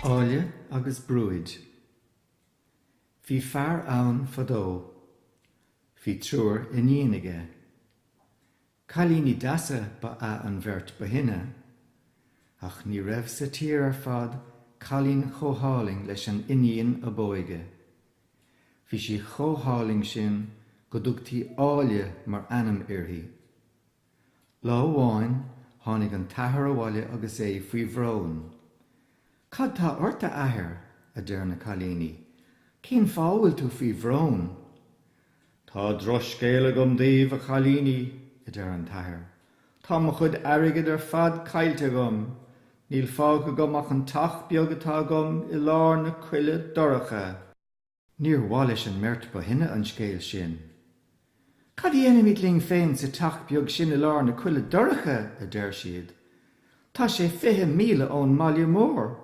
Áille agus Brúid. Bhí fear ann fadó. Bhí triúr iníon aige. Cailíní deasa ba ea an bheirt ba shine, ach ní raibh sa tír ar fad cailín chomh hálainn leis an iníon ab óige. Bhí sí chomh hálainn sin go dtugtaí 'Áille' mar ainm uirthi. Lá amháin tháinig an t-athair abhaile agus é faoi bhrón. 'Cad tá ort, a Athair? a deir na cailíní. 'Cén fáth a bhfuil tú faoi bhrón? Tá drochscéal agam daoibh, a chailíní, a deir an t-athair. Tá mo chuid airgid ar fad caillte agam. Níl fágtha agam ach an teach beag atá agam i lár na coille dorcha. Níor mhaith leis an mbeirt ba shine an scéal sin. Cad a dhéanfaimid linn féin sa teach beag sin i lár na coille dorcha? a deir siad. Tá sé fiche míle ón mbaile mór.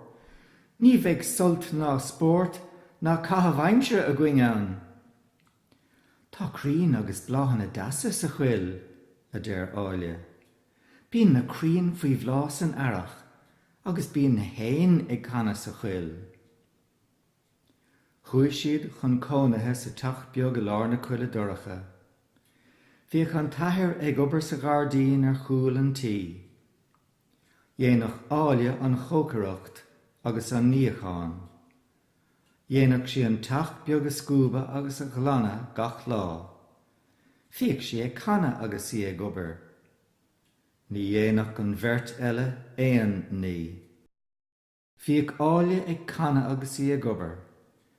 Ní bheidh sult ná spórt ná caitheamh aimsire againn ann. Tá crainn agus bláthanna deasa sa choill, a deir Áille. Bíonn na crainn faoi bhláth san earrach agus bíonn na héin ag canadh sa choill. Chuaigh siad chun cónaithe sa teach beag i lár na coille dorcha. Bhíodh an t-athair ag obair sa ghairdín ar chúl an tí. Dhéanadh Áille an chócaireacht agus an níochán. Dhéanadh sí an teach beag a scuabadh agus a ghlanadh gach lá. Bhíodh sí ag canadh agus í ag obair. Ní dhéanadh an bheirt eile aon ní. Bhíodh Áille ag canadh agus í ag obair.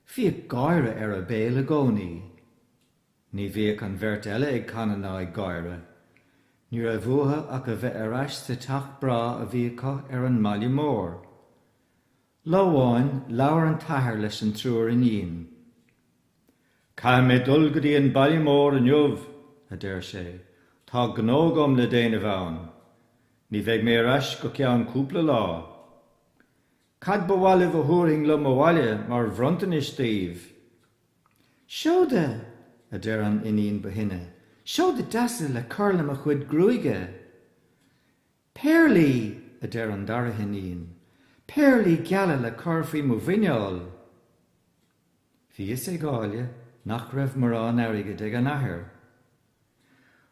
Bhíodh gáire ar a béal i gcónaí. Ní bhíodh an bheirt eile ag canadh ná ag gáire. Ní raibh uathu ach a bheith ar ais sa teach breá a bhí acu ar an mbaile mór. Lá amháin, labhair an t-athair leis an triúr iníon. Caithfidh mé dul go dtí an baile mór inniu, a deir sé, tá gnó agam le déanamh ann. Ní bheidh mé ar ais go ceann cúpla lá. Cad ba mhaith libh a thabharfainn liom abhaile mar bhronntanais daoibh? Seoda! a deir an iníon ba shine, seoda deasa le cur le mo chuid gruaige! Péarlaí! a deir an dara hiníon, péarlaí geala le cur faoi mo mhuineál! Bhí a fhios ag Áille nach raibh mórán airgid ag an athair.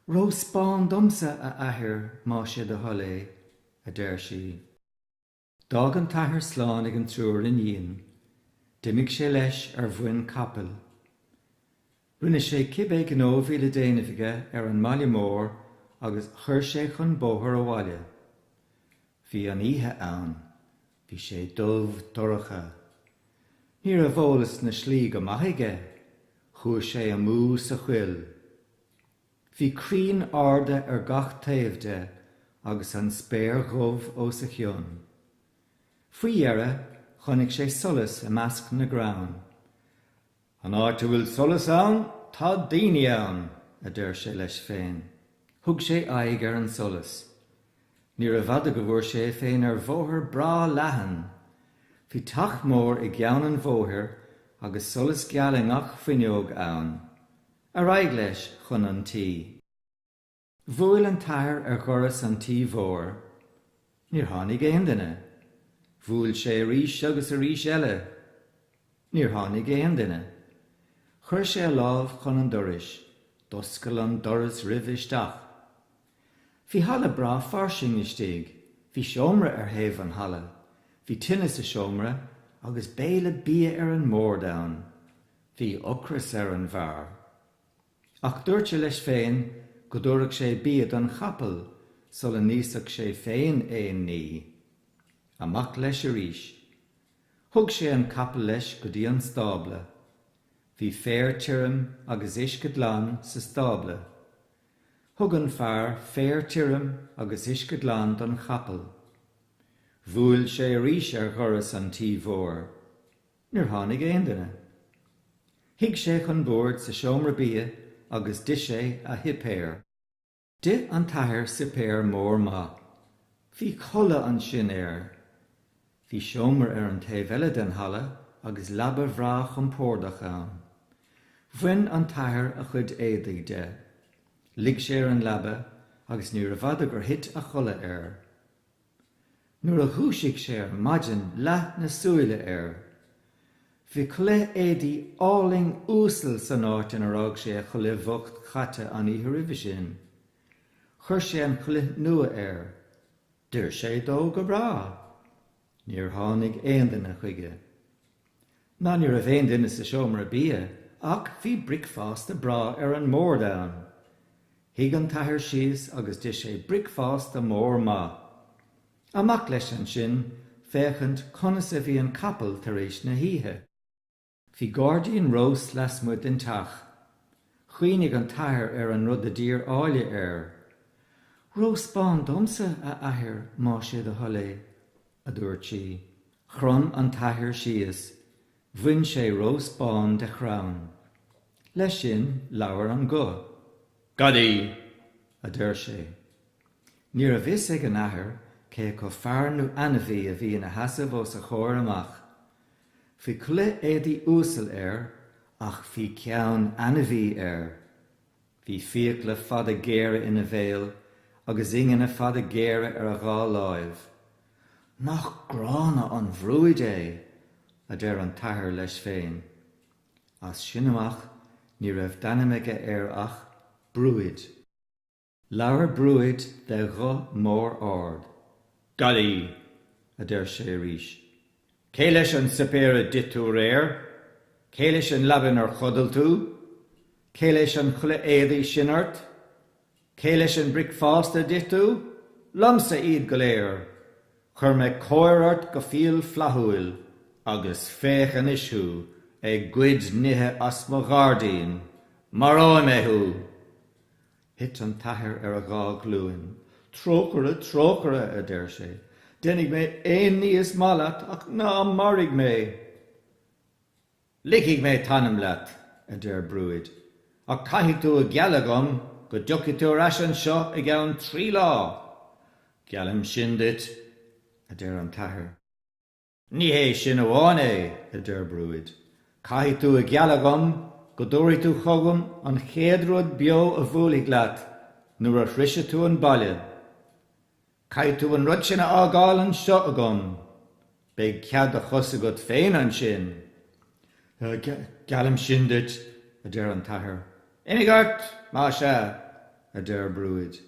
Rós bán domsa, a athair, más é do thoil é, a deir sí. D'fhág an t-athair slán ag an triúr iníon. D'imigh sé leis ar mhuin capaill. Rinne sé cibé gnó bhí le déanamh aige ar an mbaile mór agus chuir sé chun bóthair abhaile. Bhí an oíche ann. Bhí sé dubh dorcha. Ní raibh eolas na slí go maith aige. Chuaigh sé amú sa choill. Bhí crainn arda ar gach taobh de agus an spéir dhubh os a chionn. Faoi dheireadh chonaic sé solas i measc na gcrann. An áit a bhfuil solas ann, tá daoine ann! a deir sé leis féin. Thug sé aghaidh ar an solas. Níorbh fhada go bhfuair sé é féin ar bhóthar breá leathan. Bhí teach mór i gceann an bhóthair agus solas geal i ngach fuinneog ann. Ar aghaidh leis chun an tí. Bhuail an t-athair ar dhoras an tí mhóir. Níor tháinig aon duine. Bhuail sé arís agus arís eile. Níor tháinig aon duine. Chuir sé a lámh chun an dorais. D'oscail an doras roimhe isteach. Bhí halla breá fairsing istigh. Bhí seomra ar thaobh an halla. Bhí tine sa seomra agus béile bia ar an mbord ann. Bhí ocras ar an bhfear. Ach dúirt sé leis féin go dtabharfadh sé bia don chapall sula n-íosfadh sé féin aon ní. Amach leis arís. Thug sé an capall leis go dtí an stábla. Bhí féar tirim agus uisce glan sa stábla. Thug an fear féar tirim agus uisce glan don chapall. Bhuail sé arís ar dhoras an tí mhóir. Níor tháinig aon duine. Shuigh sé chun boird sa seomra bia agus d'ith sé a shuipéar. D'ith an t-athair suipéar mór maith. Bhí codladh ansin air. Bhí seomra ar an taobh eile den halla agus leaba bhreá chompórdach ann. Bhain an t-athair a chuid éadaigh de. Luigh sé ar an leaba agus níorbh fhada gur thit a chodladh air. Nuair a dhúisigh sé ar maidin leath na súile air. Bhí culaith éadaí álainn uasal san áit inar fhág sé a chulaith bhocht chaite an oíche roimhe sin. Chuir sé an chulaith nua air. D'oir sé dó go breá. Níor tháinig aon duine chuige. Ná ní raibh aon duine sa seomra bia ach bhí bricfeásta breá ar an mbord ann. Shuigh an t-athair síos agus d'ith sé bricfeásta mór maith. Amach leis ansin féachaint conas a bhí an capall tar éis na hoíche. Bhí gáirdín rós lasmuigh den teach. Chuimhnigh an t-athair ar an rud a d'iarr Áille air. Rós bán domsa, a athair, má sé do thoil é. a dúirt sí. Chrom an t-athair síos, bhain sé rós bán de chrann. Leis sin, labhair an guth. Gadaí! a deir sé. Ní raibh fhios ag an athair cé acu fear nó ainmhí a bhí ina sheasamh os a chomhair amach. Bhí culaith éadaí uasal air ach bhí ceann ainmhí air. Bhí fiacla fada géara ina bhéal agus ingne fada géara ar a dhá láimh. Nach gránna an bhrúid é! a deir an t-athair leis féin. As sin amach ní raibh d'ainm aige air ach Brúid. Labhair Brúid de ghuth mór ard. Gadaí! a deir sé arís. Cé leis an suipéar a d'ith tú aréir? Cé leis an leaba inar chodail tú? Cé leis an chulaith éadaí sin ort? Cé leis an bricfeasta a d'ith tú? Liomsa iad go léir! Chuir mé cóir ort go fial flaithiúil, agus féach anois thú ag goid nithe as mo ghairdín! Maróidh mé thú! Thit an t-athair ar a dhá ghlúin. Trócaire, trócaire! a deir sé. Déanfaidh mé aon ní is maith leat ach ná maraigh mé! Ligfidh mé t'anam leat, a deir Brúid, ach caithfidh tú a ghealladh dhom go dtiocfaidh tú ar ais anseo i gceann trí lá. Geallaim sin duit, a deir an t-athair. Ní hé sin amháin é, a deir Brúid. Caithfidh tú a ghealladh dhom go dtabharfaidh tú chugam an chéad rud beo a bhuailfidh leat nuair a shroisfidh tú an baile. Caithfidh tú an rud sin a fhágáil anseo agam. Beidh cead do chos agat féin ansin. Geallaim sin duit, a deir an t-athair. Imigh ort, más ea, a deir Brúid.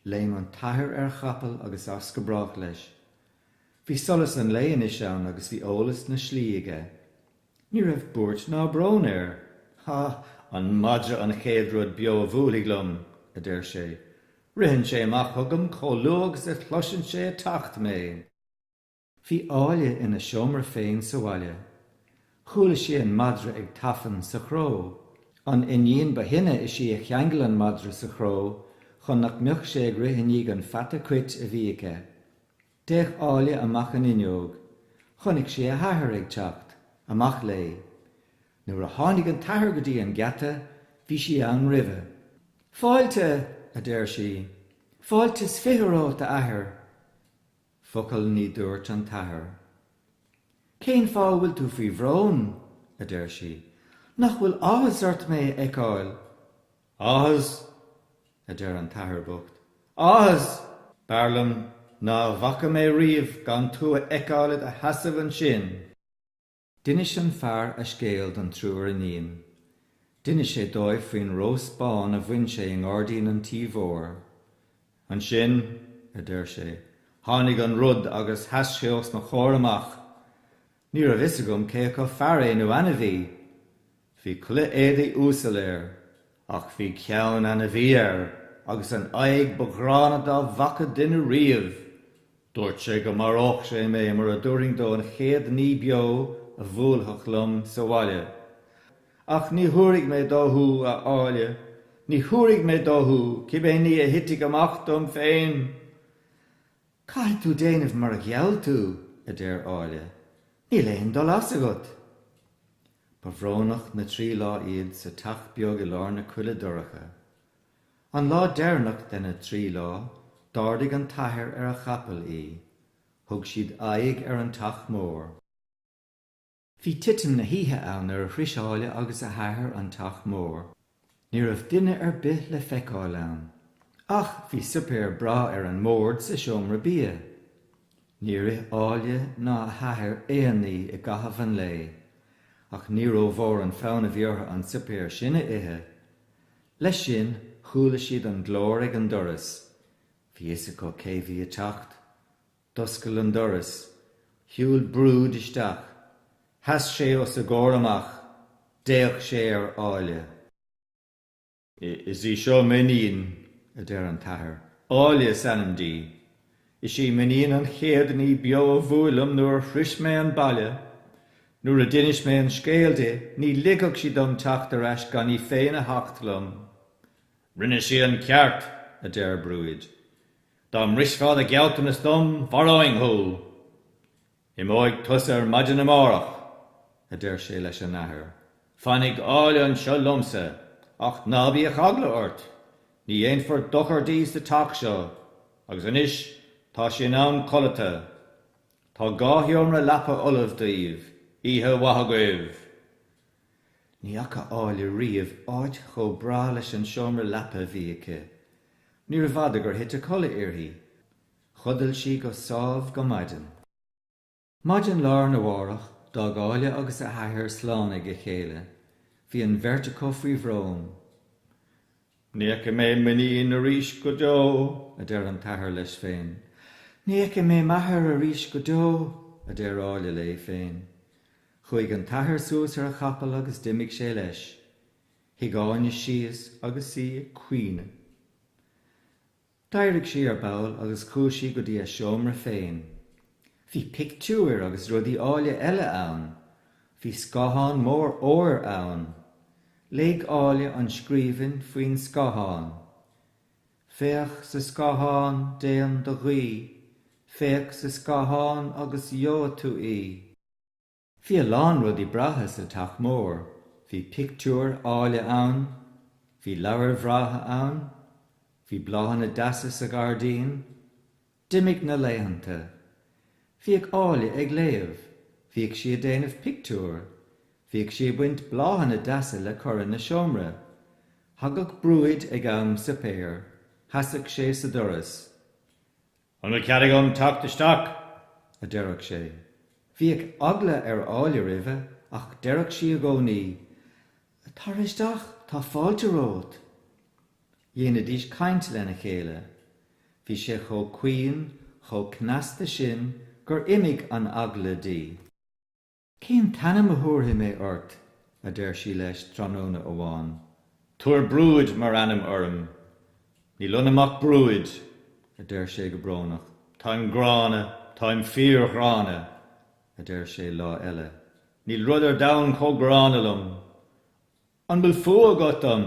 Léim an t-athair ar chapall agus as go brách leis. Bhí solas an lae anois ann agus bhí eolas na slí aige. Ní raibh buairt ná brón air. Há! An madra an chéad rud beo a bhuailfidh liom! a deir sé. Ritheann sé amach chugam chomh luath agus a chloiseann sé ag teacht mé. Bhí Áille ina seomra féin sa bhaile. Chuala sí an madra ag tafann sa chró. An iníon ba shine is í a cheangail an madra sa chró chun nach mbeadh sé ag rith i ndiaidh an pheata cuit a bhí aici. D'fhéach Áille amach an fhuinneog. Chonaic sí a hathair ag teacht. Amach léi. Nuair a tháinig an t-athair go dtí an geata, bhí sí ann roimhe. Fáilte! a deir sí. Fáilte 's fiche romhat, a athair! Focal ní dúirt an t-athair. Cén fáth a bhfuil tú faoi bhrón? a deir sí. Nach bhfuil áthas ort mé a fheiceáil? Áthas! a deir an t-athair bocht. Áthas! B'fhearr liom ná a bhfaca mé riamh gan tú a fheiceáil i do sheasamh ansin! D'inis an fear a scéal don triúr iníon. D'inis sé dóibh faoin rós bán a bhain sé i ngairdín an tí mhóir. Ansin, a deir sé, tháinig an rud agus sheas sé os mo chomhair amach! Ní raibh fhios agam cé acu fear é nó ainmhí. Bhí culaith éadaigh uasal air, ach bhí ceann ainmhí air agus an aghaidh ba ghránna dá bhfaca duine riamh. Dúirt sé go maródh sé mé mura dtabharfainn dó an chéad ní beo a bhuailfeadh liom sa bhaile. Ach ní thabharfaidh mé dó thú, a Áille, ní thabharfaidh mé dó thú, cibé ní a thitfidh amach dom féin! Caithfidh tú déanamh mar a gheall tú, a deir Áille, níl aon dul as agat. Ba bhrónach na trí lá iad sa teach beag i lár na coille dorcha. An lá deireanach de na trí lá, d'ardaigh an t-athair ar a chapall í. Thug siad aghaidh ar an teach mór. Bhí titim na hoíche ann nuair a shrois Áille agus a hathair an teach mór. Ní raibh duine ar bith le feiceáil ann. Ach bhí suipéar breá ar an mbord sa seomra bia. Níor ith Áille ná a hathair aon ní i gcaitheamh an lae. Ach ní rómhór an fonn a bhí orthu an suipéar sin a ithe. Leis sin, chuala siad an glór ag an doras. Bhí fhios acu cé bhí ag teacht. D'oscail an doras. Shiúil Brúid isteach. Sheas sé os a gcomhair amach. D'fhéach sé ar Áille. 'Is í seo m'iníon, a deir an t-athair. 'Áille is ainm di. Is í m'iníon an chéad ní beo a bhuail liom nuair a shrois mé an baile. Nuair a d'inis mé an scéal di, ní ligfeadh sí dom teacht ar ais gan í féin a theacht liom. 'Rinne sí an ceart, a deir Brúid. Dá mbrisfeá do ghealltanas dom, mharóinn thú! Imeoidh tusa ar maidin amárach, a deir sé leis an athair. Fanfaidh Áille anseo liomsa, ach ná bíodh eagla ort, ní dhéanfar dochar di sa teach seo, agus anois tá sé in am codlata. Tá dhá sheomra leapa ullamh daoibh. Oíche mhaith agaibh! Ní fhaca Áille riamh áit chomh breá leis an seomra leapa a bhí aici. Níorbh fhada gur thit a codladh uirthi. Chodail sí go sámh go maidin. Maidin lá arna mhárach, d'fhág Áille agus a hathair slán ag a chéile. Bhí an bheirt acu faoi bhrón. Ní fheicfidh mé m'iníon arís go deo, a deir an t-athair leis féin. Ní fheicfidh mé m'athair arís go deo, a deir Áille léi féin. Chuaigh an t-athair suas ar a chapall agus d'imigh sé leis. Shuigh Áille síos agus í ag caoineadh. D'éirigh sí ar ball agus chuaigh sí go dtí a seomra féin. Bhí pictiúir agus rudaí áille eile ann. Bhí scáthán mór óir ann. Léigh Áille an scríbhinn faoin scáthán. Féach sa scáthán, déan do ghuí, féach sa scáthán agus gheobhaidh tú í. Bhí a lán rudaí breátha sa teach mór, bhí pictiúir áille ann, bhí leabhair bhreátha ann, bhí bláthanna deasa sa ghairdín. D'imigh na laethanta. Bhíodh Áille ag léamh, bhíodh sí ag déanamh pictiúr, bhíodh sí ag baint bláthanna deasa le cur ina seomra. Thagadh Brúid ag am suipéir, sheasadh sé sa doras. An bhfuil cead agam teacht isteach? a deireadh sé. Bhíodh eagla ar Áille roimhe ach deireadh sí i gcónaí, Tar isteach, tá fáilte romhat. Dhéanaidís caint lena chéile. Bhí sé chomh caoin, chomh cneasta sin gur imigh an eagla di. Cén t-ainm a thabharfaidh mé ort? a deir sí leis tráthnóna amháin. Tabhair Brúid mar ainm orm. Níl ionam ach brúid, a deir sé go brónach. Táim gránna, táim fíorghránna, a deir sé lá eile. Níl rud ar domhan chomh gránna liom. An bhfuil fuath agat orm?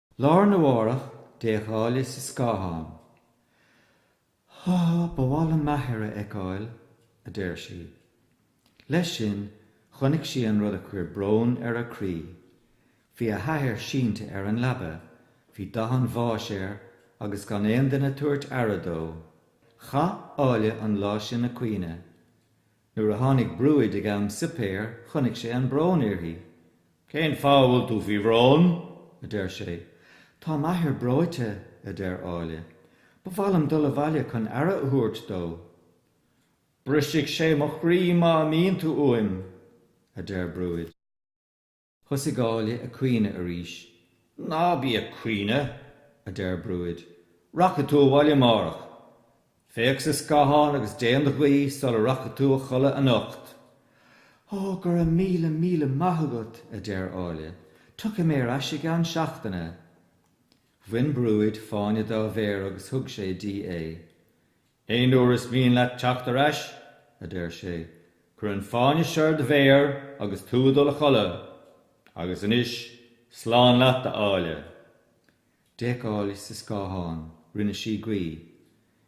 Lá arna mhárach, d'fhéach Áille sa scáthán. Há, ba mhaith liom m'athair a fheiceáil, a deir sí. Leis sin, chonaic sí an rud a chuir brón ar a croí. Bhí a hathair sínte ar an leaba, bhí dath an bháis air agus gan aon duine ag tabhairt aire dó. Chaith Áille an lá sin ag caoineadh. Nuair a tháinig Brúid ag am suipéir chonaic sé an brón uirthi. Cén fáth a bhfuil tú faoi bhrón? a deir sé. Tá m'athair breoite, a deir Áille. Ba mhaith liom dul abhaile chun aire a thabhairt dó. Brisfidh sé mo chroí má imíonn tú uaim, a deir Brúid. Thosaigh Áille ag caoineadh arís. Ná bí ag caoineadh! a deir Brúid. Rachaidh tú abhaile amárach. Féach sa scáthán agus déan do ghuí sula rachaidh tú a chodladh anocht. Ó, go raibh míle, míle maith agat! a deir Áille. Tiocfaidh mé ar ais i gceann seachtaine. Bhain Brúid fáinne dá mhéar agus thug sé di é. Aon uair is mian leat teacht ar ais, a deir sé, cuir an fáinne seo ar do mhéar agus tú ag dul a chodladh. Agus anois, slán leat, a Áille. D'fhéach Áille sa scáthán. Rinne sí guí.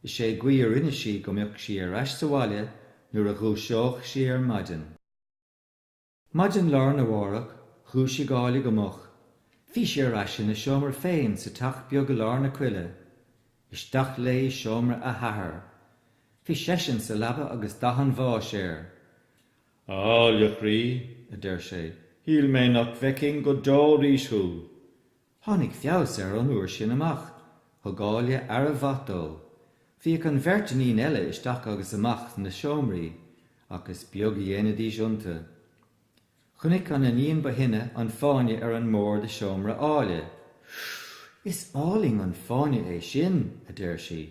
Is é guí a rinne sí go mbeadh sí ar ais sa bhaile nuair a dhúiseodh sí ar maidin. Maidin lá arna mhárach, dhúisigh Áille go moch. Bhí sí ar ais ina seomra féin sa teach beag i lár na coille. Isteach léi i seomra a hathar. Bhí seisean sa leaba agus dath an bháis air. A Áille chroí, a deir sé, shíl mé nach bhfeicfinn go deo arís thú. Tháinig feabhas air ón uair sin amach. Thug Áille aire mhaith dó. Bhíodh an bheirt iníon eile isteach agus amach ina seomraí, ach is beag a dhéanaidís iontu. Chonaic an iníon ba shine an fáinne ar an mbord i seomra Áille. Is álainn an fáinne é sin! a deir sí.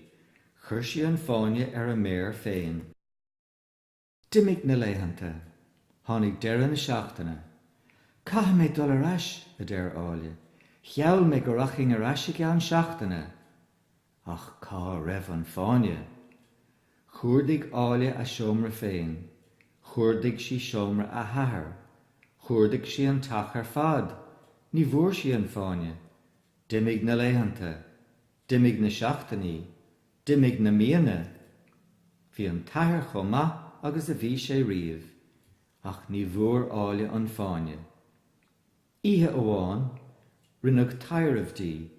Chuir sí an fáinne ar a méar féin. D'imigh na laethanta. Tháinig deireadh na seachtaine. 'Caithfidh mé dul ar ais, a deir Áille. 'Gheall mé go rachainn ar ais i gceann seachtaine. Ach cá raibh an fáinne? Chuardaigh Áille a seomra féin. Chuardaigh sí seomra a hathar. Chuardaigh sí an teach ar fad. Ní bhfuair sí an fáinne. D'imigh na laethanta. D'imigh na seachtainí. D'imigh na míonna. Bhí an t-athair chomh maith agus a bhí sé riamh. Ach ní bhfuair Áille an fáinne. Oíche amháin, rinneadh taidhreamh di.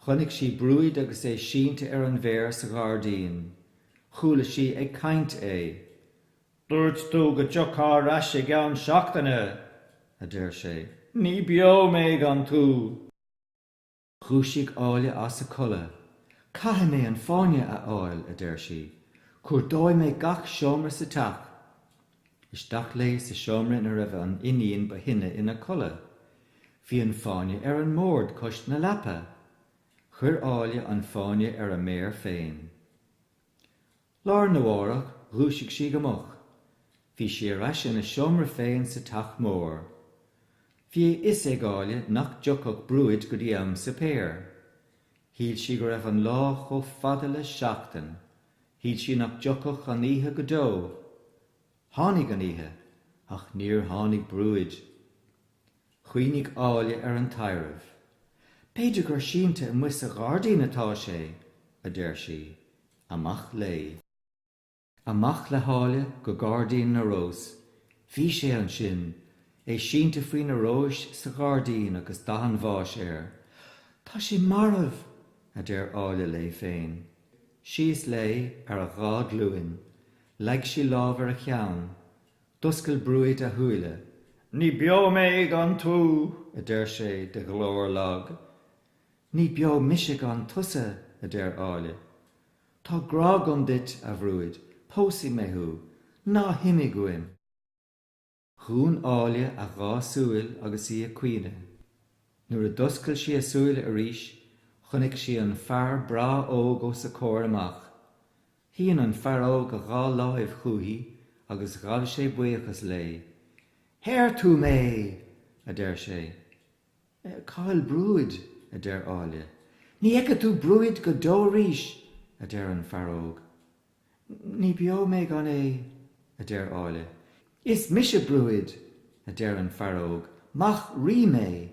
Chonaic sí Brúid agus é sínte ar an bhféar sa ghairdín. Chuala sí ag caint é. Dúirt tú go dtiocfá ar ais i gceann seachtaine! a deir sé. Ní beo mé gan tú! Dhúisigh Áille as a codladh. Caithfidh mé an fáinne a fháil, a deir sí. Cuardóidh mé gach seomra sa teach. Isteach léi sa seomra ina raibh an iníon ba shine ina codladh. Bhí an fáinne ar an mbord cois na leapa. Chuir Áille an fáinne ar a méar féin. Lá arna mhárach dhúisigh sí go moch. Bhí sí ar ais ina seomra féin sa teach mór. Bhí a fhios ag Áille nach dtiocfadh Brúid go dtí am suipéir. Shíl sí go raibh an lá chomh fada le seachtain. Shíl sí nach dtiocfadh an oíche go deo. Tháinig an oíche, ach níor tháinig Brúid. Chuimhnigh Áille ar an taibhreamh. 'B'fhéidir gur sínte amuigh sa ghairdín atá sé! a deir sí. Amach léi. Amach le hÁille go Gairdín na Rós. Bhí sé ansin, é sínte faoi na róis sa ghairdín agus dath an bháis air. 'Tá sé marbh! a deir Áille léi féin. Síos léi, ar a dhá glúin. Leag sí lámh ar a cheann. D'oscail Brúid a shúile. 'Ní beo mé gan tú! a deir sé de ghlór lag. 'Ní beo mise gan tusa! a deir Áille. 'Tá grá agam duit, a Bhrúid, pósfaidh mé thú, ná himigh uaim! Dhún Áille a dhá súil agus í ag caoineadh. Nuair a d'oscail sí a súile arís, chonaic sí an fear breá óg os a comhair amach. Shín an fear óg a dhá láimh chuici agus ghabh sé buíochas léi. Shaor tú mé! a deir sé. Cá bhfuil Brúid? a deir Áille. Ní fheicfidh tú Brúid go deo arís! a deir an fear óg. Ní beo mé gan é! a deir Áille. Is mise Brúid! a deir an fear óg. Mac Rí mé!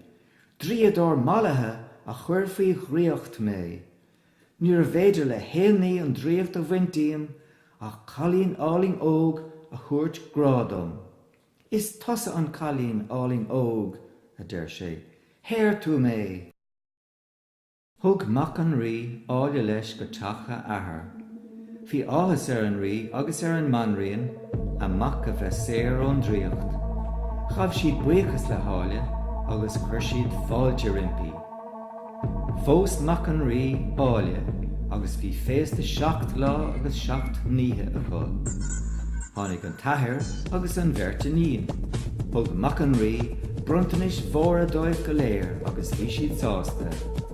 Draíodóir mallaithe a chuir faoi dhraíocht mé! Níorbh fhéidir le haon ní an draíocht a bhaint díom ach cailín álainn óg a thabhairt grá dom. Is tusa an cailín álainn óg, a deir sé, shaor tú mé! Thug mac an Rí Áille leis go teach a athar. Bhí áthas ar an Rí agus ar an mBanríon a mac a bheith saor ón draíocht. Ghabh siad buíochas le hÁille agus chuir siad fáilte roimpi. Phós mac an Rí Áille agus bhí féasta seacht lá agus seacht n-oíche acu. Tháinig an t-athair agus an bheirt iníon. Thug mac an Rí bronntanais mhóra dóibh go léir agus bhí siad sásta.